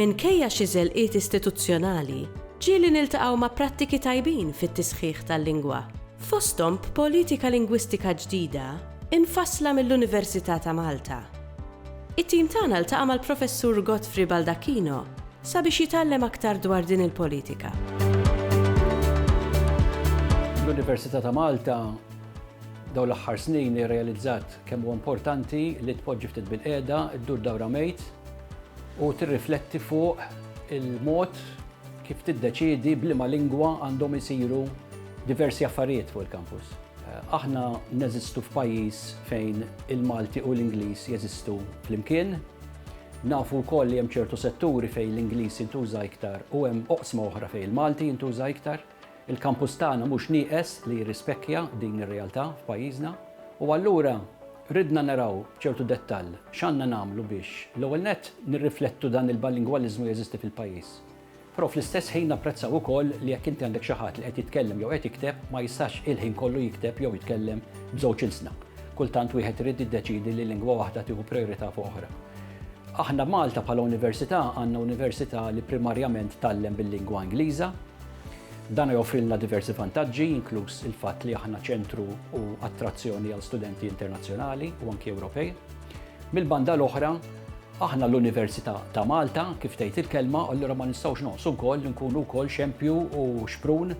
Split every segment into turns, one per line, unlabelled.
Minkejja xi żelqiet istituzzjonali, ġieli niltaqgħu ma' prattiki tajbin fit-tisħiħ tal-lingwa, fosthom b'politika lingwistika ġdida mfassla mill-Università ta' Malta. It-tim tagħna ltaqa' mal-Professur Godfrey Baldacchino sabiex jitgħallem aktar dwar din il-politika.
L-Università ta' Malta dawn l-aħħar snin irrealizzat kemm huwa importanti li tpoġġi ftit bil-qiegħda, ddur dawra mejt u tirrifletti fuq il-mod kif tiddeċiedi b'liema lingwa għandhom isiru diversi affarijiet fuq il-kampus. Aħna neżistu f'pajjiż fejn il-Malti u l-Ingliż jeżistu flimkien. Nafu wkoll li hemm ċertu setturi fejn l-Ingliż jintuża iktar u hemm oqsma oħra fejn il-Malti jintuża iktar. Il-kampus tagħna mhux nieqes li jirrispekja din ir-realtà f'pajjiżna u allura ridna naraw b'ċertu dettall x'għandna nagħmlu biex l-ewwel nett nirriflettu dan il-bilingwaliżmu jeżisti fil-pajjiż. Però fl-istess ħin napprezzaw ukoll li jekk inti għandek xi ħadd li qed jitkellem jew qed jikteb ma jistax il-ħin kollu jikteb jew jitkellem b'żewġ ilsna. Kultant wieħed irid jiddeċiedi li lingwa waħda tieħu prijorità fuq oħra. Aħna Malta bħala università għandna università li primarjament tgħallem bil-lingwa Ingliża. Dan joffrilna diversi vantaġġi, inkluż il-fatt li aħna ċentru u attrazzjoni għal studenti internazzjonali u anki Ewropej. Mill-banda l-oħra, aħna l-Università ta' Malta, kif tgħid il-kelma, allura ma nistgħux noqsu wkoll nkunu wkoll xempju u xprun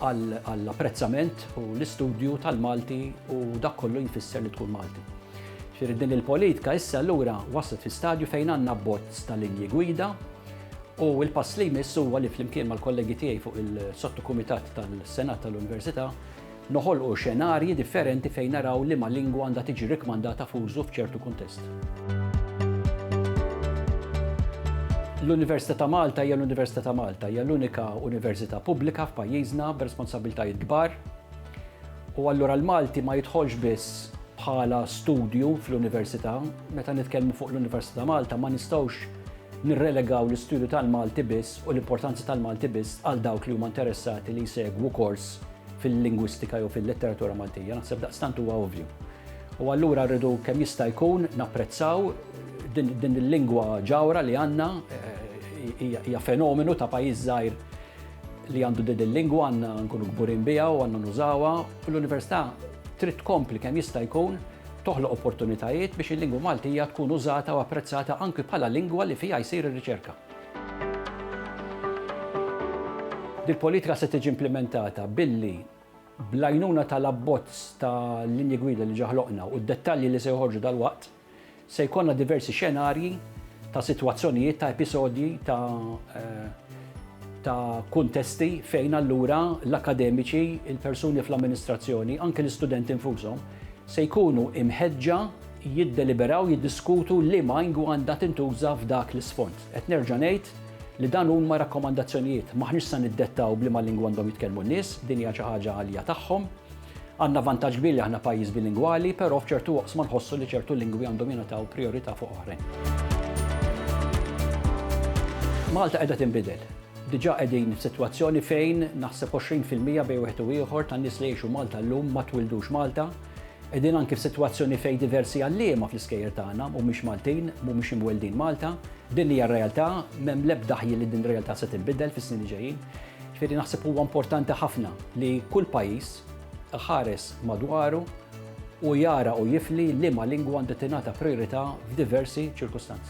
għall-apprezzament u l-istudju tal-Malti u dak kollu jfisser li tkun Malti. Ġifieri din il-politika issa allura waslet fi stadju fejn għandna bozz ta' linji gwida u l-pass li jmiss huwa li flimkien mal-kollegi tiegħi fuq il-sottokumitat tal-Senat tal-Università Noħolqu xenarji differenti fejn naraw liema lingwa għandha tiġi rikkmandata f'użu f'ċertu kuntest. L-Università ta' Malta hija l-Università ta' Malta, hija l-unika università pubblika f'pajjiżna b'responsabbiltajiet kbar. U allura l-Malti ma jidħolx biss bħala studju fl-università, meta nitkellmu fuq l-Università ta' Malta ma nistgħux nirrelegaw l-istudju tal-Malti biss u l-importanza tal-Malti biss għal dawk li huma interessati li jsegwu kors fil-lingwistika jew fil-letteratura Maltija, naħseb daqstant huwa ovvju. U allura rridu kemm jista' jkun napprezzaw din il-lingwa ġawra li għandna eh, hija fenomenu ta' pajjiż żgħir li għandu din il-lingwa għandna nkunu kburin biha u għandna nużawha u l-università trid tkompli kemm jista' jkun toħloq opportunitajiet biex il-lingwa Maltija tkun użata u apprezzata anki bħala lingwa li fiha jsir ir-riċerka. Dil-politika se tiġi implimentata billi, bl-għajnuna tal-abbozz ta' linji gwida li ġa ħloqna u d-dettalji li se joħorġu dalwaqt, se jkollna diversi xenarji ta' sitwazzjonijiet, ta' episodji, ta' ta' kuntesti fejn allura l-akkademiċi, il-persuni fl-amministrazzjoni, anke l-istudenti nfushom, se jkunu mħeġġa, jiddeliberaw, jiddiskutu liema ingwa għandha tintuża f'dak l-isfond. Qed nerġa' ngħid li dan huma rakkomandazzjonijiet, m'aħniex sa niddettaw b'liema lingwa għandhom jitkellmu n-nies, din hija xi ħaġa li hija tagħhom. Għandna vantaġġ kbir li aħna pajjiż bilingwali, però f'ċertu oqsma nħossu li ċertu lingwi għandhom jingħataw prijorità fuq oħrajn. Malta qiegħda tinbidel. Diġà qegħdin f'sitwazzjoni fejn naħseb 20 fil-mija bejn wieħed u ieħor tan-nies li jgħixu Malta llum ma twildux Malta. Qegħdin anki f'sitwazzjoni fejn diversi għalliema fl-iskejjel tagħna mhumiex Maltin, mhumiex imweldin Malta. Din hija r-realtà, m'hemm l-ebda ħjiel li din ir-realtà se tinbidel fis-snin li ġejjin. Ġifieri naħseb huwa importanti ħafna li kull pajjiż iħares madwaru u jara u jifli liema lingwa għandha tingħata prijorità f'diversi ċirkustanzi.